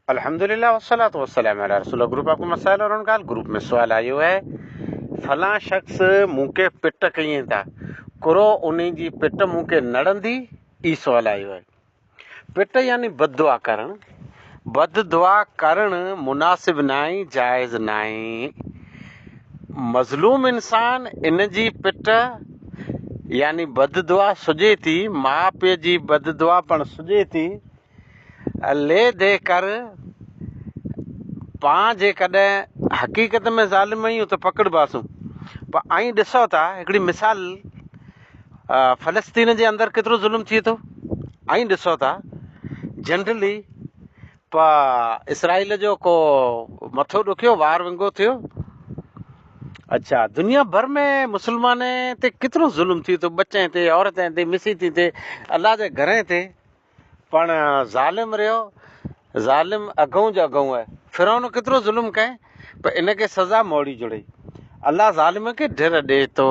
الحمدللہ والصلاة والسلام علی رسول اللہ گروپ آپ کو مسائل اور انکال گروپ ۾ سوال آيو آهي فلان شخص مون کي پٽ ڪيئين ٿا ڪرو انهي جي پٽ مون کي نڙندي اي سوال آيو آهي پٽ يعني بد دعا ڪرڻ بد دعا ڪرڻ مناسب ناهي جائز ناهي مظلوم انسان ان جي پٽ يعني بد دعا سجي ٿي ماء پي جي بد دعا پڻ سجي ٿي لي دي ڪر پان جيڪڏهن حقيقت ۾ ظالم آهيون ته پڪڙباسون پر ائين ڏسو ته هڪڙي مثال فلسطين جي اندر ڪيترو ظلم ٿئي ٿو ائين ڏسو ته جنرلي پ اسرائيل جو ڪو مٿو ڏکيو وار ونگو ٿيو اچھا دنيا ڀر ۾ مسلمان تي ڪيترو ظلم ٿئي ٿو ٻچن تي عورتن تي مسيتين تي الله جي گھرين تي پڻ ظالم رهيو ظالم اڳئون جو اڳئون آهي فرعون ڪيترو ظلم ڪئين پر ان کي سزا موڙي جڙئي الله ظالم کي ڍر ڏي ٿو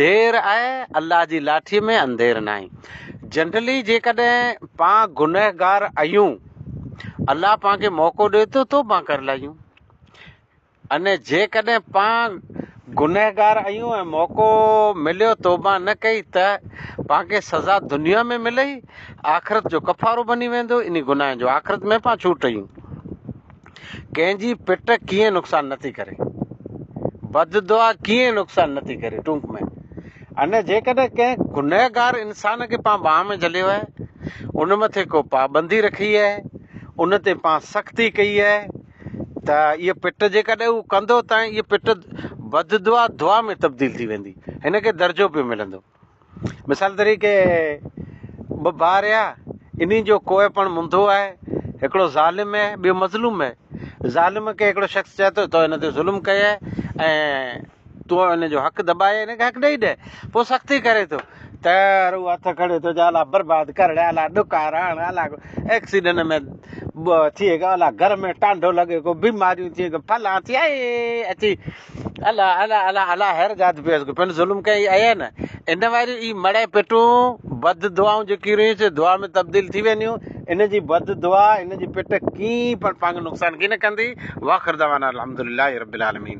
دير آهي الله جي لاٺي ۾ انڌير ناهي جنرلي جيڪڏهن پان گنهگار آهيون الله پان کي موقعو ڏي ٿو توبه ڪري لاهيون ۽ جيڪڏهن پان گنهگار آهيون ۽ موقعو مليو توبه نه ڪئي ته پان کي سزا دنيا ۾ ملئي آخرت جو ڪفارو بني ويندو انهي گناهن جو آخرت ۾ پان ڇوٽ ايون ڪنهن جي پٽ ڪيئن نقصان نه ٿي ڪري بد دعا ڪيئن نقصان نه ٿي ڪري ٽونڪ ۾ ان جيڪڏهن ڪنهن گنهگار انسان کي پان باهه ۾ جهليو آهي ان مٿي ڪو پابندي رکي آهي ان تي پان سختي ڪئي آهي ته هيء پٽ جيڪڏهن هو ڪندو ته هيء پٽ بددعا دعا ۾ تبديل ٿي ويندي. هن کي درجو پيو ملندو. مثال طريقي ٻه ڀاء رهيا، انهن جو ڪوئي پڻ منڌو آهي، هڪڙو ظالم اهي، ٻيو مظلوم اهي. ظالم کي هڪڙو شخص چئي ٿو، تو هن تي ظلم ڪيئي ۽ تون ان جو حق دٻائي ان کي حق ڏئي ڏي پوء سختي ڪري ٿو ته رو هٿ کڻي ٿو جا الا برباد ڪرڻ الا ڏڪار هڻ الا ايڪسيڊنٽ ۾ ٿي ڪو الا گهر ۾ ٽانڊو لڳي ڪو بيماريون ٿي ڪو فلان ٿي اي اچي الا الا الا الا هر ذات پيس ڪو پن ظلم ڪئي اي نه ان واري اي مڙي پٽون بد دعائون جيڪي رهي سي دعا ۾ تبديل ٿي وينديون ان جي بد دعا ان جي پٽ ڪي پر پنگ نقصان ڪي نه ڪندي واخر دعوانا الحمدلله رب العالمين